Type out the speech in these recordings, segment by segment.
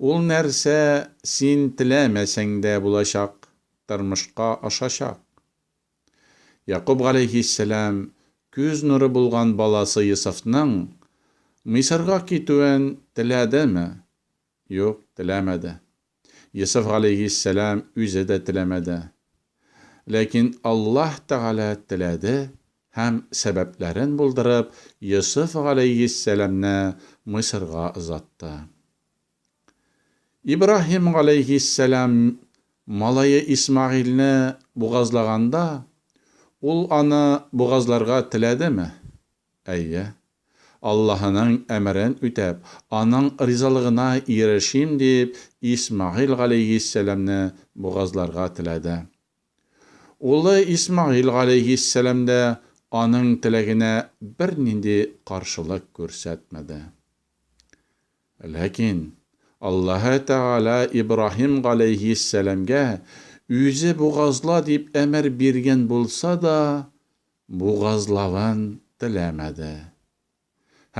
Ул нәрсә син теләмәсәң дә булачак, тормышка ашачак. Якуб галәйһиссәлам күз нуры булган баласы Йосыфның Мисырга китүен теләдеме? Юк, теләмәде. Йосыф галәйһиссәлам үзе дә теләмәде. Ләкин Аллаһ Тәгалә теләде Һәм сәбәпләрен булдырып, Йосыф галәйһиссәламне Мисырга озатты. Ибраһим галәйһиссәлам малае Исмәгыйльне бугазлаганда, ул аны бугазларга теләдеме? Әйе. Аллаһының әмерен үтәп, аның ризалыгына ирешим дип, Исмәгыйль галәйһиссәламне бугазларга теләде. Улы Исмәгыйль галәйһиссәлам дә аның теләгенә бернинди каршылык күрсәтмәде. Ләкин Аллаһы Тәгалә Ибраһим галәйһиссәламгә үзе бугазла дип әмер биргән булса да, бугазлавын теләмәде.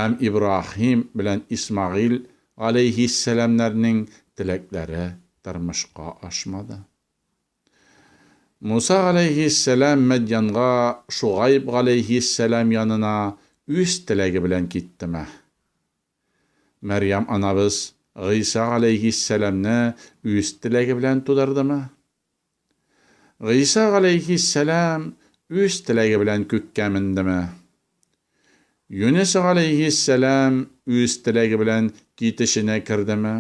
Һәм Ибраһим белән Исмәгыйль галәйһиссәламнәрнең теләкләре тормышка ашмады. Муса галәйһиссәлам Мәдьянга Шугайб галәйһиссәлам янына үз теләге белән китте. Мә. Мәрьям анабыз Гыйса галәйһиссәламне үз теләге белән тудырды. Мә. Гыйса галәйһиссәлам үз теләге белән күккә менде. Мә. Юнес галәйһиссәлам үз теләге белән китешенә керде. Мә.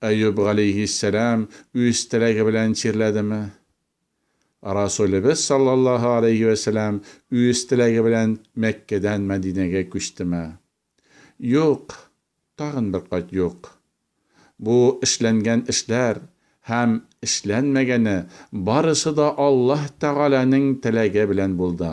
Әюп галәйһиссәлам үз теләге белән чирләдеме? Расулебез саллаллаһу галәйһи вә сәлам үз теләге белән Мәккәдән Мәдинәгә күчтеме? Юк, тагын бер кат юк. Бу эшләнгән эшләр һәм эшләнмәгәне барысы да Аллаһ Тәгаләнең теләге белән булды.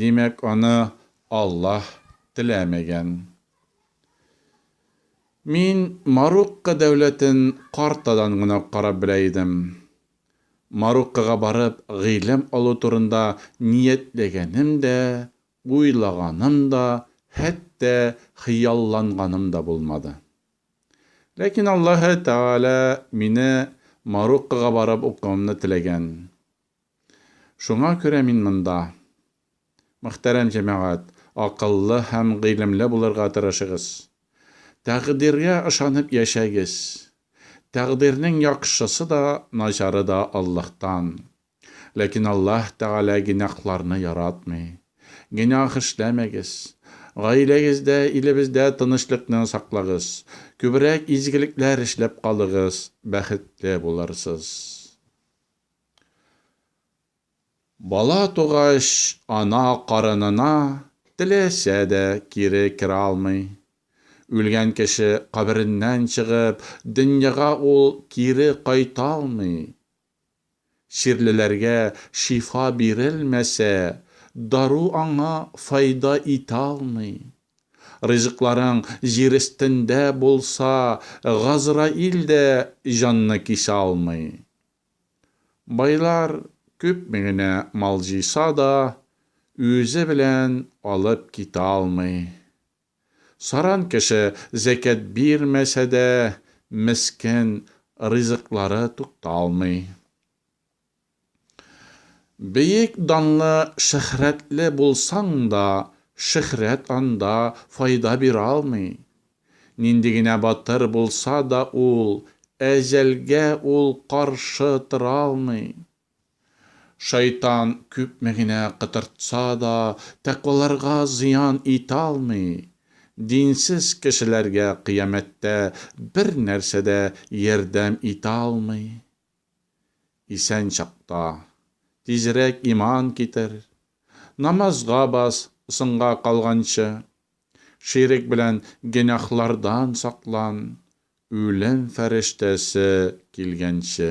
Димәк, аны Аллаһ теләмәгән. Мин Марокко дәүләтен картадан гына карап белә идем. Мароккога барып гыйлем алу турында ниятләгәнем дә, уйлаганым да, хәтта хыялланганым да булмады. Ләкин Аллаһы Тәгалә мине Мароккога барып укуымны теләгән. Шуңа күрә мин монда. Мөхтәрәм җәмәгать, акыллы һәм гыйлемле булырга тырышыгыз. Тәкъдиргә ышанып яшәгез. Тәкъдирнең яхшысы да, начары да Аллаһтан. Ләкин Аллаһ Тәгалә генәхларны яратмый. Генәх эшләмәгез. Гаиләгездә, илебездә тынычлыкны саклагыз. Күбрәк изгелекләр эшләп калыгыз, бәхетле булырсыз. Бала тугач, ана карынына теләсә дә кире керә алмый. Үлгән кеше кабереннән чыгып, дөньяга ул кире кайта алмый. Чирлеләргә шифа бирелмәсә, дару аңа файда итә алмый. Ризыкларың җир өстендә булса, Газраил дә җанны кисә алмый. Байлар күпме генә мал җыйса да, үзе белән алып китә алмый. Саран кеше зәкят бирмәсә дә, мескен, ризыклары тукталмый. Бөек данлы, шөһрәтле булсаң да, шөһрәт анда файда бирә алмый. Нинди генә батыр булса да ул, әҗәлгә ул каршы тора алмый. Шайтан күпме генә котыртса да, тәкъваларга зыян итә алмый. Динсез кешеләргә кыямәттә бернәрсә дә ярдәм итә алмый. Исән чакта, тизрәк иман китер, намазга бас, соңга калганчы, ширек белән гөнаһлардан саклан, үлем фәрештәсе килгәнче.